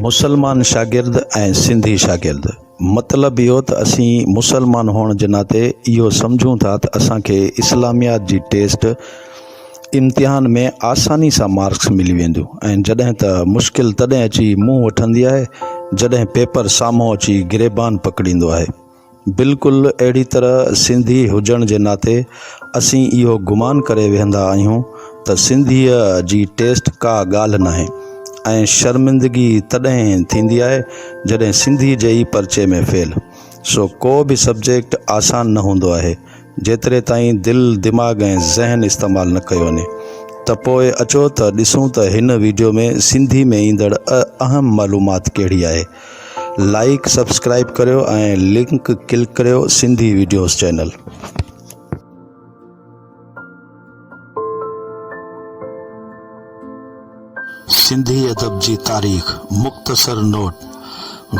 مسلمان شاگرد ۽ سنڌي شاگرد مطلب اهو ته اسين مسلمان هئڻ جي ناتي اهو سمجهون ٿا ته اسان کي اسلاميات جي ٽيسٽ امتحان ۾ آساني سان مارڪس ملي وينديون ۽ جڏهن ته مشڪل تڏهن اچي منهن وٺندي آهي جڏهن پيپر سامهون اچي گريبان پڪڙيندو آهي بلڪل اهڙي طرح سنڌي هجڻ جي ناتي اسين اهو گمان ڪري ويهندا آهيون ته سنڌيء جي ٽيسٽ ڪا ڳالهه ناهي ۽ شرمندگي تڏهن ٿيندي آهي جڏهن سنڌي جي ئي پرچي ۾ فيل سو ڪو به سبجيڪٽ آسان نه هوندو آهي جيتري تائين دل دماغ ۽ ذهن استعمال نه ڪيو وڃي ته پوء اچو ته ڏسون ته هن وڊيو ۾ سنڌي ۾ ايندڙ اهم معلومات ڪهڙي آهي لائيڪ سبسڪرائيب ڪريو ۽ لنڪ ڪلڪ ڪريو سنڌي ويڊيوز چينل. سنڌي ادب جي تاريخ، مختصر نوٽ،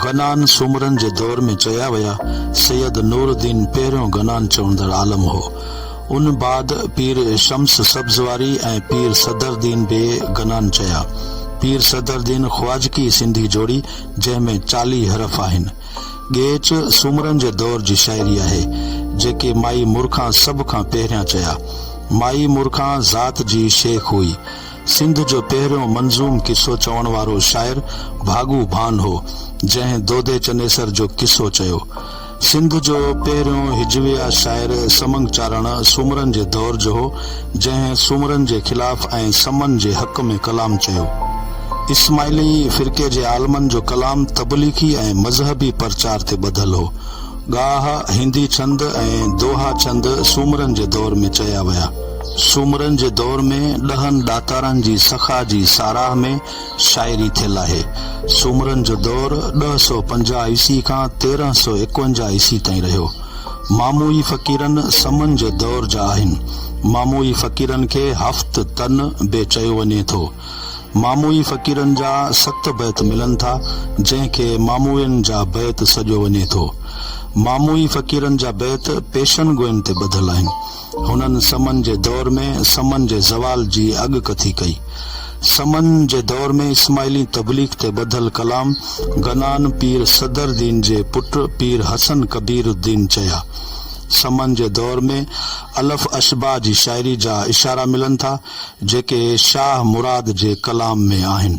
غنان سومرن جي دور ۾ چيا ويا سيد نور الدين پهريون غنان چوندڙ عالم هو. ان بعد پير شمس سبزواري ۽ پير صدردين بي گنان چيا. پير صدردين خواجڪي سنڌي جوڙي جنهن ۾ چاليهه حرف آهن. ڳيچ سومرن جي دور جي شاعري آهي، جيڪي مائي مورکان سڀ کان پهريان چيا. مائي مورکان ذات جي شيخ هئي. سنڌ جو پهريون منظوم قصو چوڻ وارو شاعر ڀاڳو ڀان هو، جنهن دودي چنيسر جو قصو چيو. سنڌ جو پهريون هجويه شاعر سمنگ چارڻ سومرن جي دور جو هو، جنهن سومرن جي خلاف ۽ سمن جي حق ۾ ڪلام چيو. اسماعيلي فرقي جي عالمن جو ڪلام تبليغي ۽ مذهبي پرچار تي ٻڌل هو. ڳاهه، هندي ڇند ۽ دوها ڇند سومرن جي دور ۾ چيا ويا. سومرن جي دور ۾ ڏهن ڏاتارن جي سخا جي ساراهه ۾ شاعري ٿيل آهي. سومرن جو دور ڏهه سؤ پنجاهه عيسي کان تيرنهن سؤ ايڪونجاهه عيسي تائين رهيو. ماموئي فقيرن سمن جي دور جا آهن. ماموئي فقيرن کي هفت تن به چيو وڃي ٿو. ماموئي فقيرن جا ست بيت ملن ٿا، جنهن کي ماموئين جا بيت سڏيو وڃي ٿو. ماموئي فقيرن جا بيت پيشن گوئين تي ٻڌل آهن. هنن سمن جي دور ۾ سمن جي زوال جي اڳڪٿي ڪئي. سمن جي دور ۾ اسماعيلين تبليغ تي ٻڌل ڪلام گنان پير صدرالدين جي پٽ پير حسن ڪبير الدين چيا. سمن جي دور ۾ الف اشباع جي شاعري جا اشارا ملن ٿا، جيڪي شاهه مراد جي ڪلام ۾ آهن.